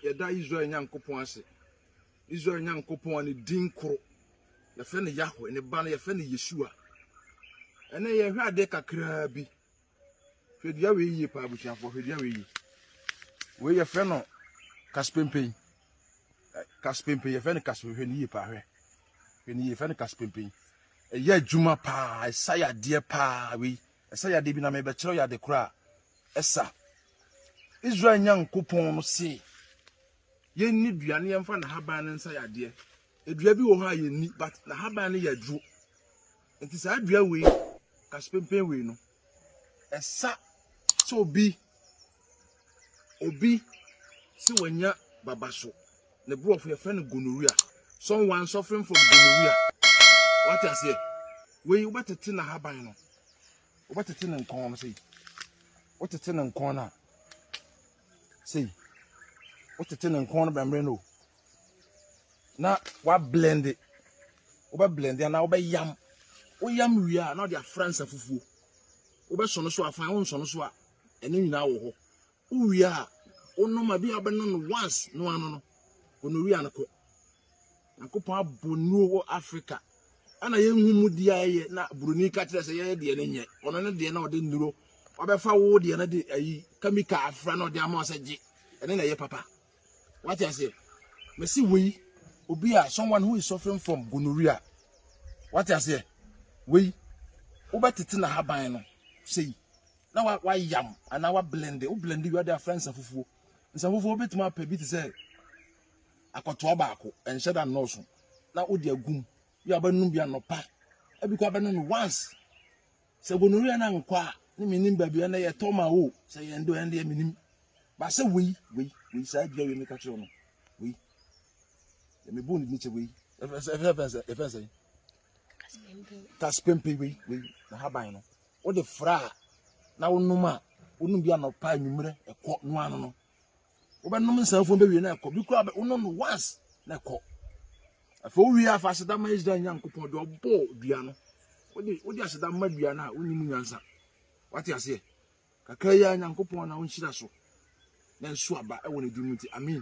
yɛda Israel Nyankopɔn ase. Israel Nyankopɔn a ne din koro. Yɛfrɛ no Yahweh, ne ba no yɛfrɛ no Yeshua. Ɛnɛ yɛhwɛ adeɛ kakraa bi. Hwɛ dua wei yie paa abusuafoɔ, hwɛ dua wei yie. Wei yɛfrɛ no kasipempen. Kasipempen, yɛfrɛ no kasipempen, hwɛ ne yie paa hwɛ. Hwɛ ne yie, yɛfrɛ no kasipempen. Ɛyɛ adwuma paa, ɛsa yadeɛ paa wei. Ɛsa yadeɛ bi na mebɛkyerɛ yɛ ade korɔ a ɛsa. Israel Nyankopɔn no se yɛnni dua ne yɛmfa n'ahaban no nsa yadeɛ. Dua bi wɔ hɔ a yɛnni, but n'ahaban no yɛ aduro. Nti saa dua wei, kasepempen wei no, ɛsa sɛ obi obi sɛ wanya baba so. Ne borɔfo yɛfrɛ no gonorrhea. Someone suffering from gonorrhea. Wate aseɛ? Wei wobɛtete n'ahaban no. Wobɛtete ne nkɔn no sei. Wotete ne nkɔn no a sei. Wotete ne nkɔn no bɛmmere no o. na wa blend wobɛ blend anaa wobɛ yam woyam wie a na ɔde afra nsa fufuo wobɛsɔ no so a fan wonsɔ no so a ɛno nyinaa wɔ hɔ wowie a wonom a bi a wobɛnom no once no ano no gonorrhea no kɔ nyankopɔn abɔ nnuo wɔ africa ɛna yɛnhu mu di a ɛyɛ na buroni ka kyerɛ sɛ yɛyɛ deɛ no nyɛ ɔno ne deɛ na ɔde nnuro wabɛfa wo deɛ no de ayi kamika afra na ɔde ama sɛ gye ɛne na ɛyɛ papa What I say? Me see we obi a someone who is suffering from gonorrhea. What I say? We wobɛtete na haban no sei na wa wa yam ana wa blend o blend wi ade afra nsa fufuo nsa fufuo betuma apɛ bi te sɛ akɔtoa baako ɛnhyɛ da nnɔɔso na wode agum bi a wobɛnom bi anɔpa ebi kɔ abɛnom no once Sɛ gonorrhea na nkwa ne menim baabi ɛnɛ yɛ tɔ ma wo sɛ yɛn do ɛndeɛ menim ba sɛ wei wei wei saa dua wei meka kyerɛ no wei me bu ne kyɛ wei ɛfɛn sɛ kaspempe wei wei na haban no wode fra a na wonom a wonom bi anɔpa anwummerɛ ɛkɔ noa no no wobɛnom nsa afuo bɛwie na ɛkɔ bi koraa wonom no once na ɛkɔ afei wowie afa aseda ma israel nyankopɔn deɛ ɔbɔɔ dua no wode wode aseda ma dua no a wonni mu nyansa wate aseɛ kakra yi a nyankopɔn na wonhyira so na nso aba ɛwɔ ne dum nti amen